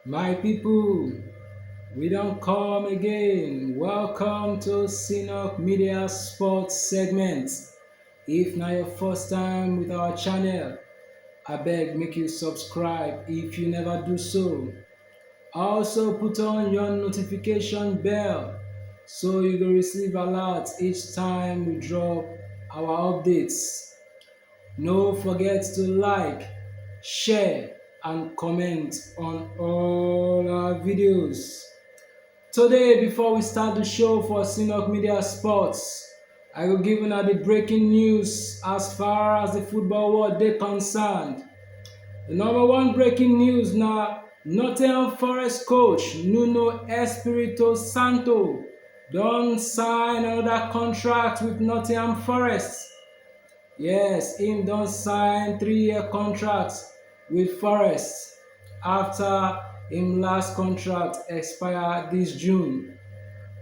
My people, we don come again. Welcome to Synop Media Sports segment. If na your first time with our channel, abeg make you subscribe if you never do so. Also put on your notification bell so you go receive alert each time we drop our updates. No forget to like, share and comment on all our videos. Today, before we start the show for Sinok Media Sports, I will give una the breaking news as far as the football world dey concerned. The number one breaking news na Nottingham Forest coach Nuno Espirito Santo don sign another contract with Nottingham Forest. Yes, im don sign three-year contract wit Forest afta im last contract expire dis June.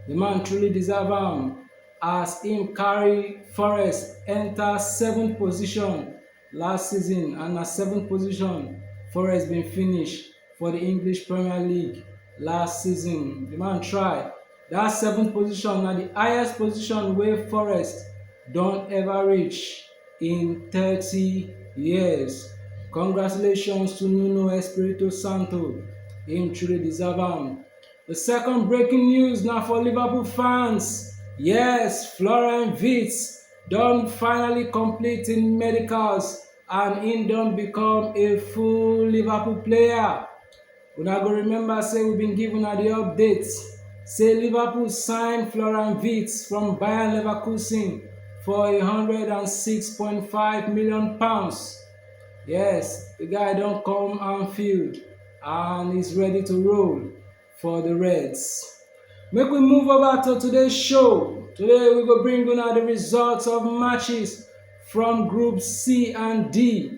Di man truly deserve am as im carry Forest enta seventh position last season and na seventh position Forest bin finish for di English Premier League last season. Di man try. Dat seventh position na di highest position wey Forest don ever reach in thirty years. Congratulations to Nuno Espirito Santo, im truly deserve am. Di second breaking news na for Liverpool fans. Yes, Florian Wirtz don finally complete im medicals and im don become a full Liverpool player. Una go remember say we bin give una di update say Liverpool sign Florian Wirtz from Bayern Leverkusen for a hundred and six point five million pounds. Yes, the guy don come Anfield and is ready to roll for the Reds. Make we move over to today's show. Today we go bring una the results of matches from Group C and D.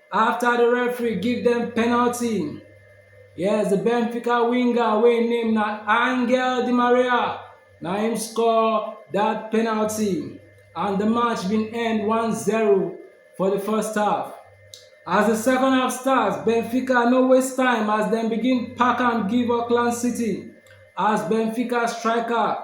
Afta di referee give dem penalty, yes di Benfica winger wey im name na Angel Di Maria na im score dat penalty and di match bin end 1-0 for di first half. As di second half start, Benfica no waste time as dem begin pack am give Auckland City as Benfica striker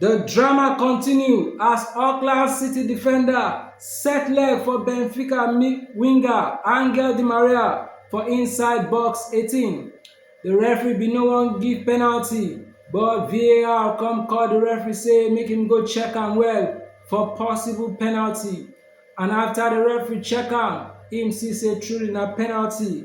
The drama continue as Auckland City defender set leg for Benfica winger Angel Di Maria for inside box 18. The referee bin no wan give penalty but VAR come call the referee say make him go check am well for possible penalty and after the referee check am him see say truly na penalty.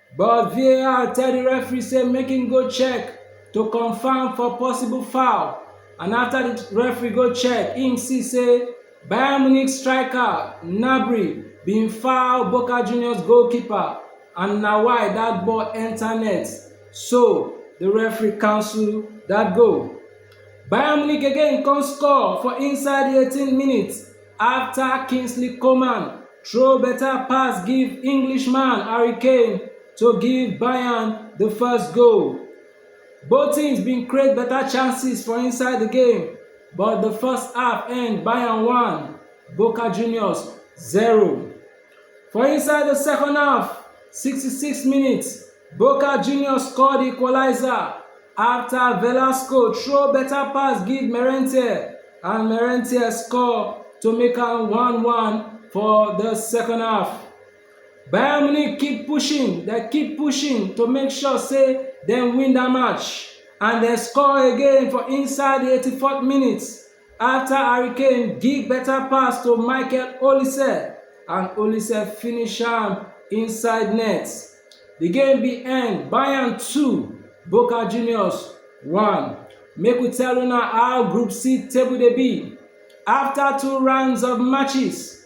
But VAR tell di referee say make im go check to confam for possible foul and afta di referee go check im see say Bayern Munich striker Gnabry bin foul Boca Juniors goalkeeper and na why dat ball enta net so di referee cancel dat goal. Bayern Munich again come score for inside di 18th minute. afta Kingsley Coman throw beta pass give Englishman Harry Kane to give Bayern di first goal. Both teams bin create beta chances for inside di game but di first half end Bayern 1, Boca Juniors 0. For inside the second half, 66 minutes, Boca Juniors scored the equalizer after Velasco throw better pass give Merentier and Merentier score to make am 1-1 for the second half. Bayern Munich keep pushing, they keep pushing to make sure say dem win that match and dem score again for inside the 84th minute. Afta Harry Kane give beta pass to Michael Olise and Olise finish am inside net, di game bin end Bayern two, Boca Juniors one. Make we tell una how Group C table dey be. Afta two rounds of matches,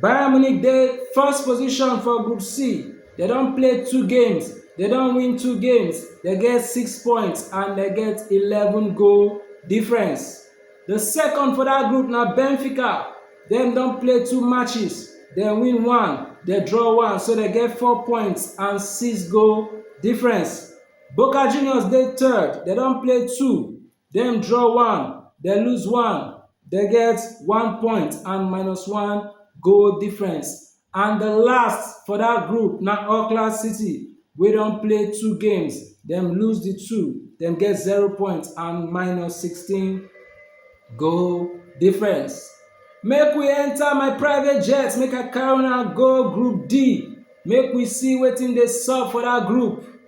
Bayern Munich dey first position for Group C, dem don play two games, dem don win two games, dem get six points and dem get eleven goal difference. The second for that group na Benfica, dem don play two matches, dem win one, dem draw one, so dem get four points and six goal difference. Boca Juniors dey third, dem don play two, Dem draw one, dem lose one, dem get one point and minus one goal difference. And the last for that group na Auckland City wey don play two games, dem lose the two, dem get zero point and minus sixteen goal difference. Make we enter my private jet make I carry una go group D make we see wetin dey sup for that group.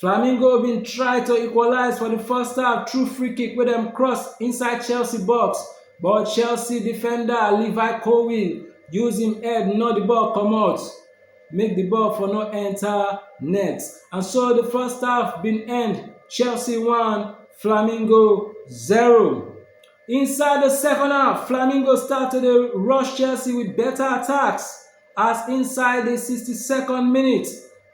Flamingo bin try to equalise for di first half through free kick wey dem cross inside Chelsea box but Chelsea defender Levi Colwill use im head knock di ball comot make di ball for no enta net and so di first half bin end Chelsea one Flamingo zero. Inside di second half, Flamingo start to dey rush Chelsea wit beta attacks as inside di 62nd minute,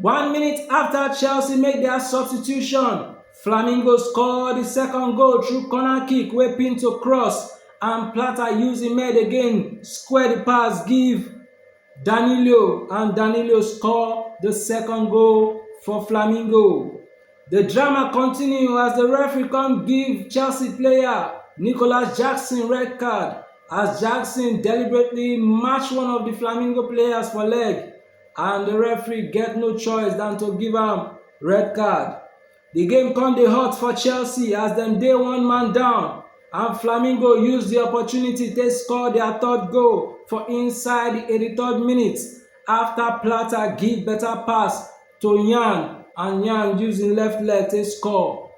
One minute afta Chelsea make dia substitution, Flamingo score di second goal through corner kick wey Pinto cross and Plata use im head again square di pass give Danilo and Danilo score di second goal for Flamingo. Di drama continue as di referee come give Chelsea player Nicolas Jackson red card as Jackson deliberately match one of di Flamingo players for leg. and the referee get no choice than to give am red card. The game come dey hot for Chelsea as dem dey one man down and Flamingo use the opportunity take score their third goal for inside the 83rd minute after Plata give better pass to Yan and Yan use im left leg take score.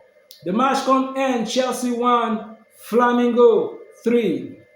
The match come end Chelsea 1, Flamingo 3.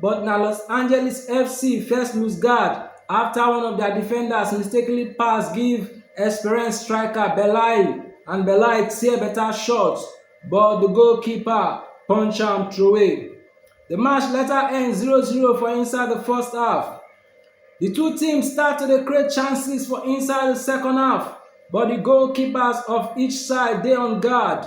But na Los Angeles FC first lose guard afta one of dia defenders mistakenly pass give experienced striker Belay and Belay tear beta shot but di goalkeeper punch am throway. Di match later end 0-0 for inside di first half. Di two teams start to dey create chances for inside di second half but di goalkeepers of each side dey on guard.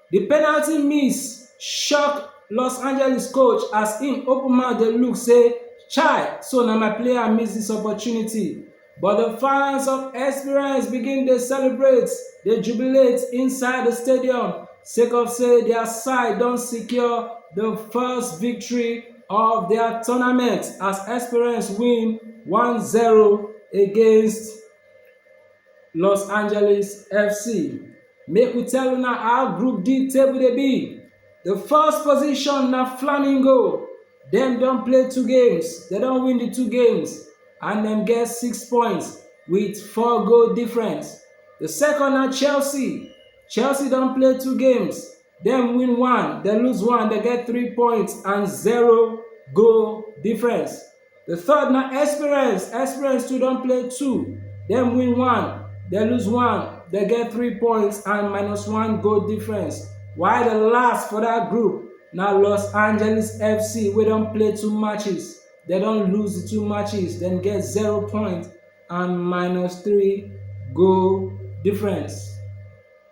Di penalty miss shock Los Angeles coach as im open mouth dey look say chai so na my player miss dis opportunity, but di fans of Esperance begin dey celebrate, dey jubilate inside di stadium sake of say dia side don secure di first victory of dia tournament as Esperance win one zero against Los Angeles FC. Make we tell una how Group D table dey be. The first position na Flamingo. Dem don play two games, dem don win the two games and dem get six points with four goal difference. The second na Chelsea. Chelsea don play two games, dem win one, dem lose one, dem get three points and zero goal difference. The third na experience. Experience too don play two. Dem win one, dem lose one, dem get three points and minus one goal difference. While the last for that group na Los Angeles FC wey don play two matches. Dem don lose the two matches, dem get zero points and minus three goal difference.